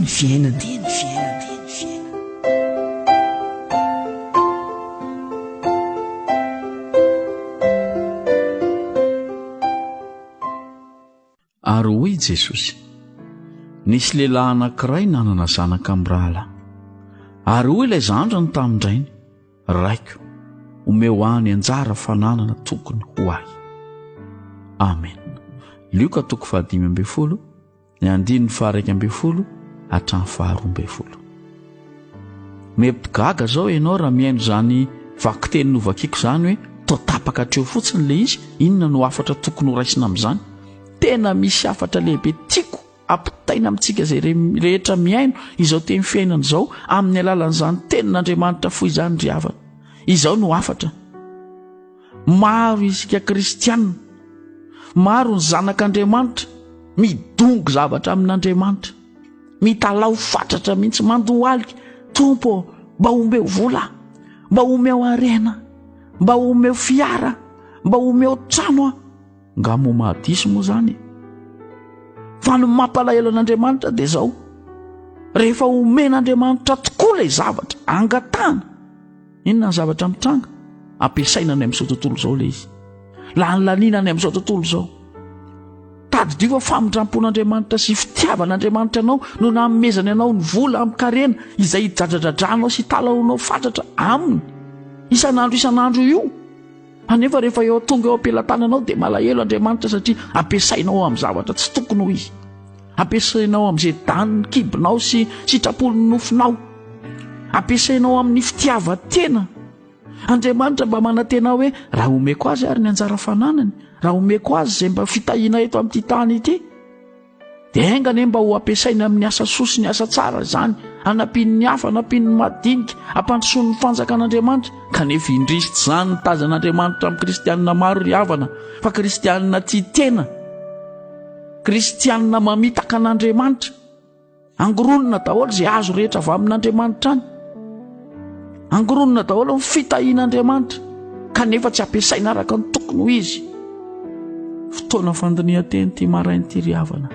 ny fiainana dia ny fiainana ary hoy i jesosy nisy lehilahy anankiray nanana zanaka amin'ny rahalahy ary hoy ilay zandrany tamin-drainy raiko omeo any anjara fananana tokony ho ahy amen lioka toko fahadimy ambin'ny folo ny andininy faharaika ambin'ny folo hatramin'ny faharoa ambin'ny folo. Mety gaga izao ianao raha mihaino izany vakiteny novakiako izany hoe toa tapaka hatreo fotsiny ilay izy, inona no hafatra tokony horaisina amin'izany? Tena misy hafatra lehibe tiako ampitaina amintsika izay rehetra mihaino izao teny fiainana izao amin'ny alalan'izany tenin'Andriamanitra fohy izany ry havana. Izao no hafatra. Maro isika kristianina, maro ny zanak'Andriamanitra midongy zavatra amin'Andriamanitra, mitalaho fatratra mihitsy, mandohalika, Tompo mba omeo vola, mba omeo harena, mba omeo fiara, mba omeo trano a. Nga mo mahadisy moa zany? Fa ny mampalahelo an'Andriamanitra dia zao, rehefa omen'Andriamanitra tokoa ilay zavatra, angatahana, Inona ny zavatra mitranga? Ampiasaina any amin'izao tontolo izao ilay izy. Lanilaniana any amin'izao tontolo izao. Tadidio fa famindrampon'Andriamanitra sy fitiavan'Andriamanitra anao no namomezany anao ny vola amin-karena izay hijajadradranao sy italahoanao fatratra aminy. Isan'andro isan'andro io. Anefa rehefa eo tonga eo am-pelatananao dia malahelo Andriamanitra satria ampiasainao amin'ny zavatra tsy tokony ho izy. Ampiasainao amin'izay danin'ny kibonao sy sitrapon'ny nofinao. Ampiasainao amin'ny fitiavan-tena. Andriamanitra mba manantena hoe raha omeko azy ary ny anjara fananany, raha omeko azy izay mba fitahiana eto amin'ity tany ity, Dia enga anie mba ho ampiasainy amin'ny asa soa sy ny asa tsara izany, hanampian'ny hafa, hanampian'ny madinika, hampandrosoan'ny fanjakan'Andriamanitra. Kanefa indrisy tsy izany no tazan'Andriamanitra amin'ny kristianina maro ry havana, fa kristianina tia tena, kristianina mamitaka an'Andriamanitra. Angoronina daholo izay azo rehetra avy amin'Andriamanitra any. Angoronina daholo ny fitahian'Andriamanitra kanefa tsy ampiasaina araka ny tokony ho izy. Fotoana fandinihan-teny ity maraina ity ry havana.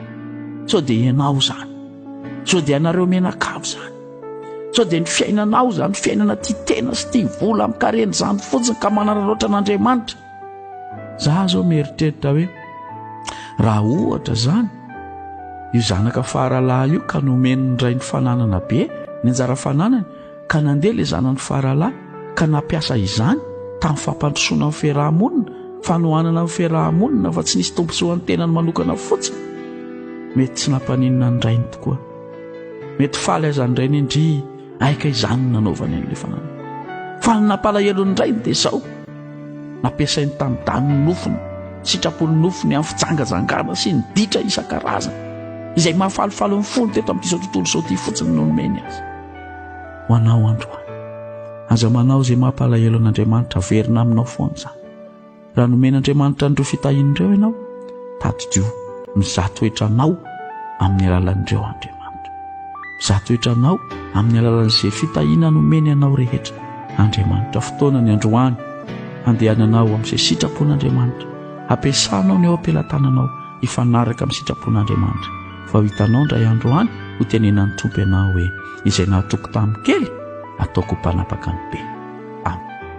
Sao dia ianao izany. Sao dia anareo menakavy izany. Sao dia ny fiainanao izany, fiainana tia tena sy tia vola amin'ny karena izany fotsiny ka manararaotra an'Andriamanitra. za zao mieritreritra hoe raha ohatra zany io zanaka faralahy io ka nomeny ny rainy fananana be ny anjara fananany ka nandeha le zanany faralahy ka nampiasa izany tamin'ny fampandrosoana ny fiarahamonina fanohanana ny fiarahamonina fa tsy nisy tombontsoan'ny tenany manokana fotsiny mety tsy nampaninona ny rainy tokoa mety faly azany rainy indri Aika izany no nanaovany an'ilay fananana. Fa ny nampalahelo indray dia izao, nampiasainy tanidanin'ny nofony, sitrapon'ny nofony amin'ny fijangajangana sy ny ditra isan-karazany, izay mahafalifaly ny fony teto amin'ity izao tontolo izao ity fotsiny no nomeny azy. Ho anao androany, aza manao izay mampalahelo an'Andriamanitra, averina aminao foana izany. Raha nomen'Andriamanitra an'ireo fitahiany ireo ianao, tadidio, mizaha toetra anao amin'ny alalan'ireo Andriamanitra. Mizaha toetra anao amin'ny alalan'izay fitahiana nomeny anao rehetra. Andriamanitra, fotoana ny androany handehananao amin'izay sitrapon'Andriamanitra. Hampiasanao ny eo am-pelatananao hifanaraka amin'ny sitrapon'Andriamanitra. Fa ho hitanao indray andro any, hotenenan'ny Tompo ianao hoe, Izay nahatoky tamin'ny kely, ataoko ho mpanapaka ny be.